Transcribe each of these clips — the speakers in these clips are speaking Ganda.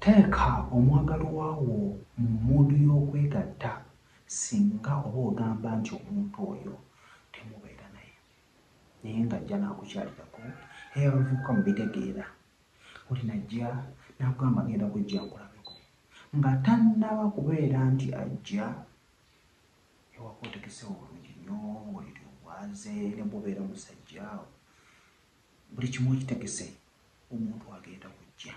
Teeka omwagalwa wo mu muudu y'okwegatta singa oba ogamba nti omuntu oyo temubeera naye naye ng'ajja n'akukyalirako era abavubuka mubitegeera oli najja n'akugamba ng'enda kujja nkulabeko nga tannaba kubeera nti ajja ewaka otekesewo bulungi nnyo oliri obwaze ne bw'obeera musajja buli kimu okitegese omuntu agenda kujja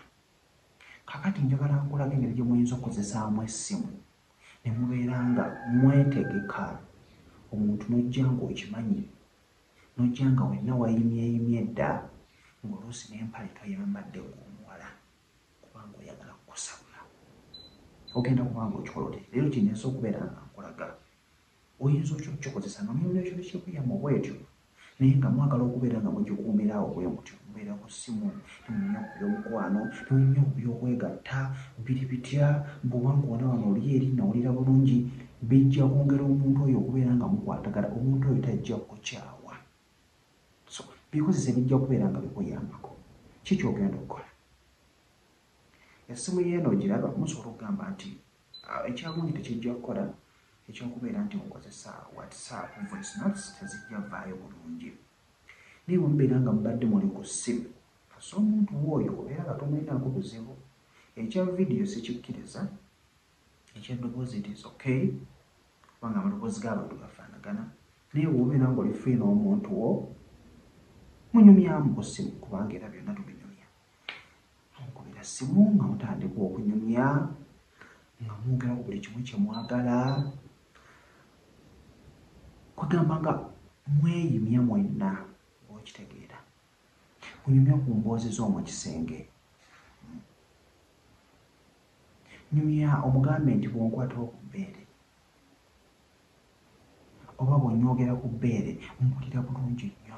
kakati njagala nkulaga engeri gye muyinza okukozesaamu essimu ne mubeera nga mwetegeka omuntu n'ojja ng'okimanyi n'ojja nga wenna wayimyeyimye dda ng'oluusi n'empale toyambadde ng'omuwala kubanga oyagala kukusabula ogenda kubanga okikola oti leero kineesa okubeera nga nkulaga Oyinza otya okukikozesa nga muli mu kyalo ky'ebweyamo bwetyo naye nga mwagala okubeera nga mugikuumira awo bwe mutyo? Mubeera ku ssimu, temunyumya ku by'omukwano, temunyumya ku by'okwegatta, biri bitya, mbu wankoona wano oli eri, nnawulira bulungi. Bijja kwongera omuntu oyo okubeera nga mukwatagana. Omuntu oyo tajja kukukyawa. So, bikozese bijja kubeera nga bikuyambako. Ki ky'ogenda okukola? Essimu y'eno ogiraba? Musobola okugamba nti. Ah, ekyagundi tekijja kukola ekyokubeera nti mukozesa whatsapp voice notes tezijja vaayo bulungi naye wemubeera nga mubadde muli ku ssimu kasa omuntu wooyo obeera nga tomulinaako buzibu ekya vidiyo sikikkiriza ekyaddoboozi it is okay kubanga amaloboozi g'abantu gafaanagana naye wobeera nga oli free n'omuntu wo munyumyamu ku ssimu kubanga era byonna tubi Mukubira ssimu nga mutandika okunyumya nga mwogera ku buli kimu kye mwagala kwegamba nga mweyimya mwenna okitegeera munyumya ku mboozi z'omu kisenge nyumya omugambe nti bw'onkwatawo ku bbeere oba bw'onywogera ku bbeere mpulira bulungi nnyo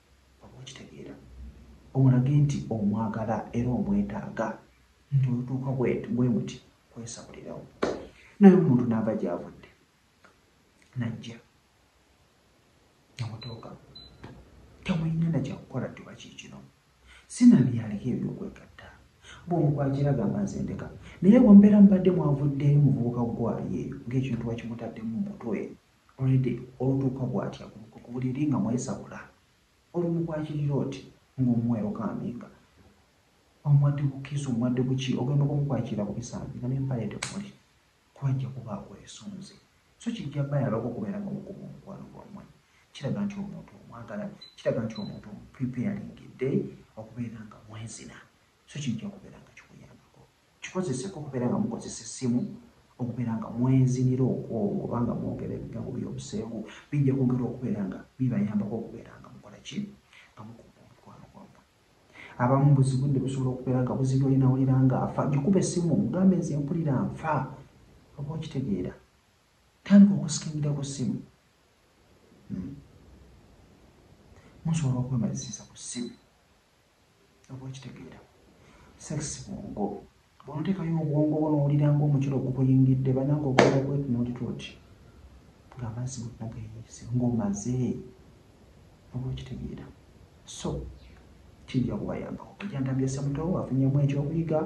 Oba okitegeera, omulage nti omwagala era omwetaaga, nti olutuuka bwe muti kwesabulirawo. Naye omuntu n'ava gy'avudde n'ajja ne mutooka, temulina na kya kukola nti oba kiikino. Sinabye aliko eby'okwegatta. Bw'omu ku akira agamba nze ndeka. Naye bwe mubeera mubadde mwavuddeeyo muvubuka ggwaayo eyo ng'ekintu wakimutaddemu mu mutwe Already olutuuka bwatya ku buliri nga mwesabula oli mukwakirira oti nga omuwa erokaamiinga omuwadde ku kiss omuwadde ku ki ogenda okumukwakirira ku bisambi nga ne mpale temuli kuba ajja kuba akwesunze so kijja bayaloko okubeera nga mukuba omukwano gwammwe kiraga nti omuntu omwagala kiraga nti omuntu omupreparingidde okubeera nga mwezina so kijja kubeera nga Kikozeseko okubeera nga mukozesa essimu, okubeera nga mwezinira okw'omu oba nga mwogera ebigambo by'obuseegu. Bijja kwongera okubeera nga bibayambako okubeera nga mukola ki? Nga mukuuma omukwano gwammwe. Abamu buzi budde busobola okubeera nga buzibye oli nawulira nga afa. Gikube essimu omugambe nze mpulira nfa. Oba okitegeera. Tandika okusikingira ku ssimu. Hmm. Musobola okwemalisiza ku ssimu. obwekitegeera sex bwongo bwonotekayo obwongo bwo nowulira nga omukiro ogubuyingidde bananga ogenda kwetunuulira oti nga amazzi gonna gayise ngaomaze obwekitegeera so kijja kubayambako kujantambisa muto afunyemu ekyokuyiga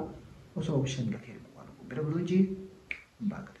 osobola okushanyirako eri mukwano kumbere bulungi mbagala